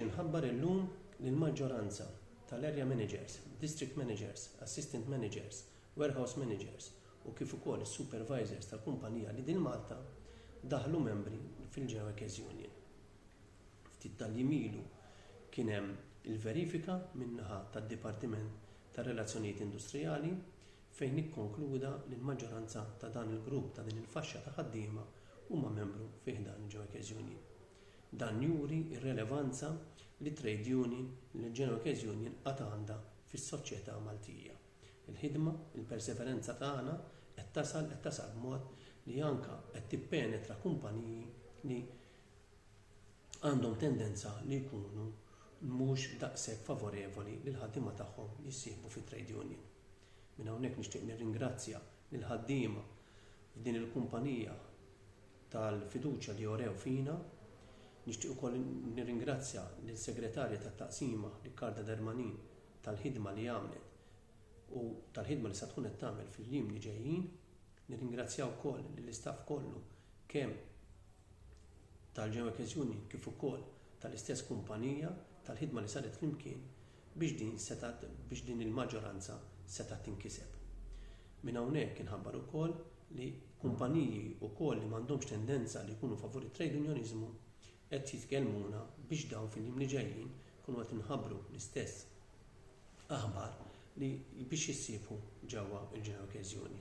Inħabbar illum li l-maġġoranza tal-Area Managers, District Managers, Assistant Managers, Warehouse Managers u kif ukoll is-Supervisors tal-kumpanija Lidl Malta daħlu membri fil-Geoekes Union. Ftit tal-jiem ilu kien hemm il-verifika min-naħa tad-Dipartiment tar-Relazzjonijiet Industrijali fejn ikkonkluda li l-maġġoranza ta' dan il-grupp ta' din il-faxxa ta' ħaddiema huma membru fi ħdan il-Geoekes Union. Dan juri r-relevanza li t-trade union, l-Genoques Union għad għandha fis-soċjetà Maltija. Il-ħidma, il-perseveranza tagħna qed tasal qed tasal b'mod li anke qed tippenetra kumpaniji li għandhom tendenza li jkunu mhux daqshekk favorevoli li l-ħaddiema tagħhom jissieħbu fi trade union. Minn hawnhekk nixtieq nirringrazzja lill-ħaddiema f'din il-kumpanija, tal-fiduċja li urew fina. Nixtieq ukoll nirringrazzja lill-Segretarja tat-Taqsima Riccarda Dermanin tal-ħidma li għamlet u tal-ħidma li sa tkun qed tagħmel fil-jiem li ġejjin. Nirringrazzja wkoll lill-istaff kollu kemm tal-Geoeques Union kif ukoll tal-istess kumpanija tal-ħidma li saret flimkien biex din setgħet biex din il-maġġoranza setgħet tinkiseb. Minn hawnhekk inħabbar ukoll li kumpaniji wkoll li m'għandhomx tendenza li jkunu favur it-trejdunjoniżmu qed jitkellmuna biex dawn fil-jiem li ġejjin ikunu qed inħabbru l-istess aħbar li biex jissieħbu ġewwa l-Ġenerokkeżjoni.